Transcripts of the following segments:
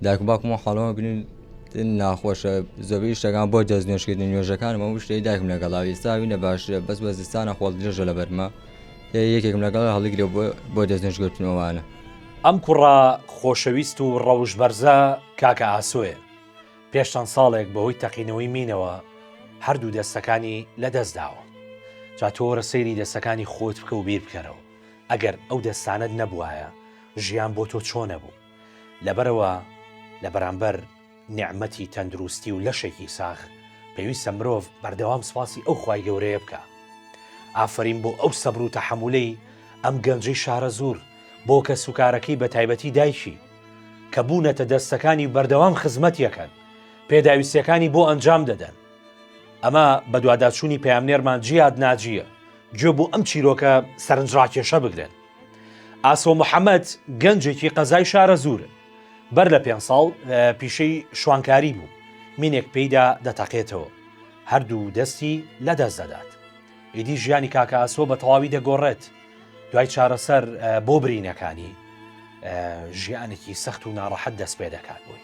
دایک و باوکم حاڵەوە بنین ناخۆشە زۆبی شتەکان بۆ دەست نوێشکردن نوێژەکانمە شتەی دایکم لەگەڵا ئێستاوی نە باشە بەس بە زستانە خۆڵ درێژە لە بەرمە یەکێکم لەگەڵ هەڵیگرێ بۆ دەست نوێشگرتنەوەوانە ئەم کوڕە خۆشەویست و ڕەوش بەرزە کاکە ئاسۆیە پێش چەند ساڵێک بەهۆی تەقینەوەی مینەوە هەردوو دەستەکانی لە دەست داوە جا تۆرە سەیری دەستەکانی خۆت بکە و بیر بکەرەوە ئەگەر ئەو دەستانت نەبوایە ژیان بۆ تۆ چۆنە بوو لەبەرئەوە لە بەرامبەر نیعمەتی تەندروستی و لەشێکی ساغ پێویستە مرۆڤ بەردەوام سوپاسی ئەو خوای گەورەیە بکا. ئافەرین بۆ ئەو سەبر و تەحەمولەی ئەم گەنجەی شارەزوور بۆ کەسوکارەکەی بەتایبەتی دایکی کە بوونەتە دەستەکانی و بەردەوام خزمەتیەکەن پێداویستیەکانی بۆ ئەنجام دەدەن. ئەمە بەدواداچوونی پەیامنێرمان جیاد ناجیە گوێ بۆ ئەم چیرۆکە سەرنجڕاکێشە بگرن. ئاسۆ محەممەد گەنجێکی قەزای شارەزوور بەر لە پێ ساڵ پیشەی شوانکاری بوو مینێک پێیدا دەتەقێتەوە هەردوو دەستی لە دەست دەدات ئیدی ژیانی کاکە ئاسۆ بە تەواوی دەگۆڕێت دوای چارەسەر بۆ برینەکانی ژیانێکی سەخت و ناڕەحەت دەست پێ دەکات بووی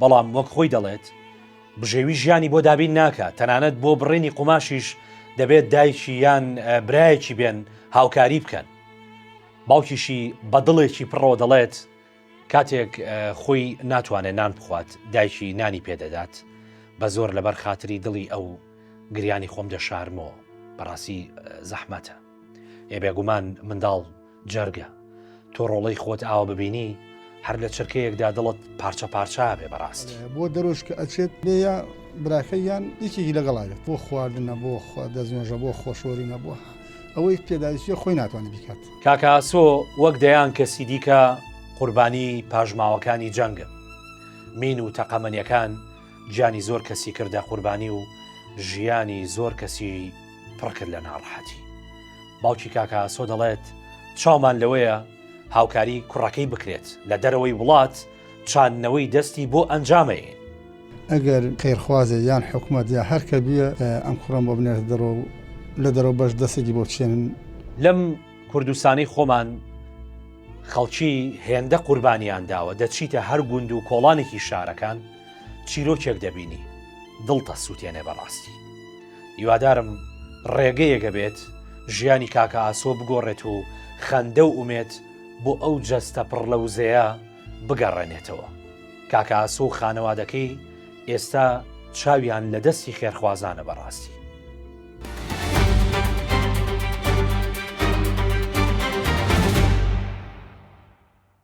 بەڵام وەک خۆی دەڵێت، بژێوی ژیانی بۆ دابین ناکات، تەنانەت بۆ بڕینی قوماشیش دەبێت دایکی یان برایەکی بێن هاوکاری بکەن. باوکیشی بە دڵێکی پڕەوە دەڵێت، کاتێک خۆی ناتوانێت نان بخوات، دایکی نانی پێدەدات، بە زۆر لەبەر خاتری دڵی ئەو گریانی خۆم دەشارمەوە، بەڕاستی زەحمەتە. ئێ بێگومان منداڵ جەرگە تۆ ڕۆڵەی خۆت ئاوە ببینی هەر لە چرکەیەکدا دڵت پارچە پارچا بێ بەڕاست بۆ دەرۆژ کە ئەچێت لێە براکە یان یەکێکی لەگەڵاوێت بۆ خواردنە بۆ دەستنوێژە بۆ خۆشۆری نەبووە ئەوەی پێداویستە خۆی ناتوانانی بکات کاکاسۆ وەک دەیان کەسی دیکە قوربانی پاژماوەکانی جەنگە مین و تەقەمەنیەکان گیانی زۆر کەسی کردە قوربانی و ژیانی زۆر کەسی پڕکرد لە ناڕەحەتی باوکی کاکە ئاسۆ دەڵێت چاومان لەوەیە هاوکاری کوڕەکەی بکرێت لە دەرەوەی وڵات چاندنەوەی دەستی بۆ ئەنجامەیە ئەگەر خێرخوازێ یان حکوومەت یا هەرکە بیە ئەم کوڕم بۆ بنێت دەڕۆ لە دەرەوە بەش دەستێکی بۆ چێنن لەم کوردستانی خۆمان خەڵکی هێندە قوربانیان داوە دەچیتە هەر گوند و کۆڵانێکی شارەکان چیرۆکێک دەبینی دڵتە سووتێنێ بەڕاستی هیوادارم ڕێگەیەک هەبێت ژیانی کاکە ئاسۆ بگۆڕێت و خەندە و ئومێد بۆ ئەو جەستە پڕ لە وزەیە بگەڕێنێتەوە. کاکە ئاسۆ و خانەوادەکەی ئێستا چاویان لە دەستی خێرخوازانە بەڕاستی.